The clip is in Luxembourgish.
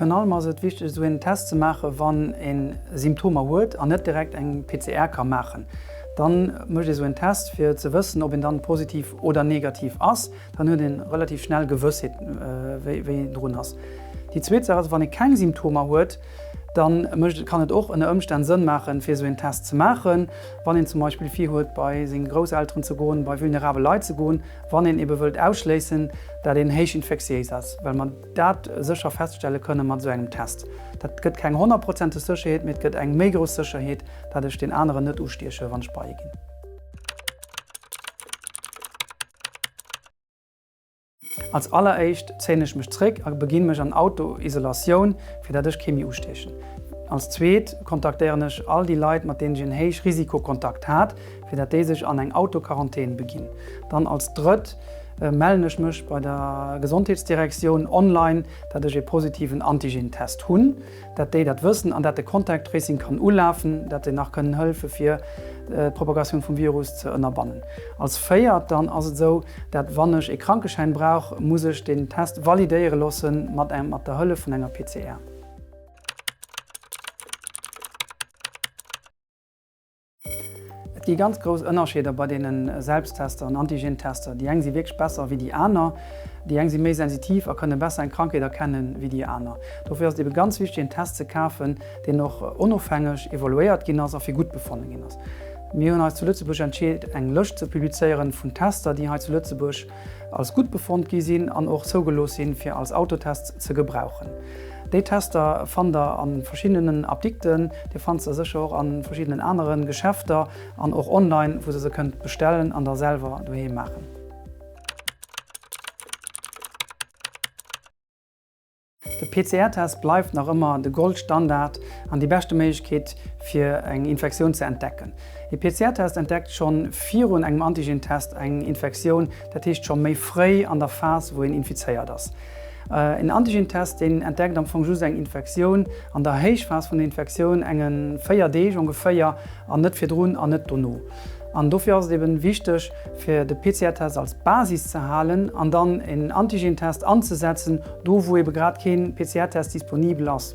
Virun allem ass et wichteg esou een Test ze maachen, wann een Symptomer huet an net direkt eng PCR ka maachen. Dann mécht ee esou een Test fir ze wëssen ob een dann positiv oder negativ ass. Dann huet ee relativ schnell Gewëssheet, wéi een drun ass. Déi zweet Saach ass, wann ee keng Symptomer huet, da kann et och ënner Ëmstänn Sënn maachen, fir esou een Test ze maachen, wann een zum Beispill virhuet, bei seng Grousselteren ze goen, bei vulnerabel Leit ze goen, wann een ebe wëllt ausschléissen, dat een héich infektiéis ass, well mer dat sécher feststelle kënne mat esou engem Test. Dat gëtt keng honnertprozenteg Sécherheet, mee et gëtt eng méi grouss Sécherheet, datt ech deen aneren net ustieche wann ech bei e ginn. Als alleréischt zéien ech mech zréck a beginn mech an Auto-Isolatioun, fir dat ech kee méi ustiechen. Als zweet kontaktéieren ech all déi Leit, mat deenen ech en Héich-Risiko-Kontakt hat, fir dat déi sech an eng Auto-Quarantän beginn. Dann als drëtt mellen ech mech bei der Gesondheetsdirektioun online, dat ech ee positiven Antigen-Test hunn. dat déi dat wëssen an dat de Contact Tracing kann ulafen, dat se nach kënnen hëlfe fir d'Propagatioun vum Virus ze ënnerbannen. Als véiert dann ass et esou, dat wann ech ee Krankeschäin brauch, muss ech deen Test validéiere loosse mat engem, mat der Hëllef vun enger PCR. Et gi ganz grouss Ënnerscheeder bei deene Selbsttester an Antigentester. Déi eng si wierklech besser wéi déi aner. Déi eng si méi sensitiv a kënne besser eng Krankheet erkenne wéi déi aner. Dofir ass et ebe ganz wichteg een Test ze kafen, deen och onofhängeg evaluéiert ginn ass a fir gutt befonne ginn ass. Mir hunn eis zu Lëtzebuerg entscheet eng Lëscht ze publizéiere vun Tester, déi hei zu Lëtzebuerg als gutt befonnt gi sinn an och zougelooss sinn, fir als Autotests ze gebrauchen. Déi Tester fannt der a verschiddenen Apdikten, Dir fannt se sécher och a verschiddenen anere Geschäfter an och online, wou se se kënnt bestellen an da selwer doheem maachen. De PCR-Test bleift nach ëmmer de Goldstandard an déi beschte Méiglechkeet, fir eng Infektioun ze entdecken. E PCR-Test entdeckt schonn virun engem Antigen-Test eng Infektioun, dat heescht scho méi fréi an der Phas, wou een infizéiert ass. En Antigen-Test, deen entdeckt am Fong just eng Infektioun an der Héichphas vun der Infektioun, enge véier Deeg ongeféier, an net virdrun an net dono. An dofir ass et eben wichteg, fir de PCR-Test als Basis ze halen an dann en Antigen-Test anzesetzen, do wou ebe grad kee PCR-Test disponibel ass.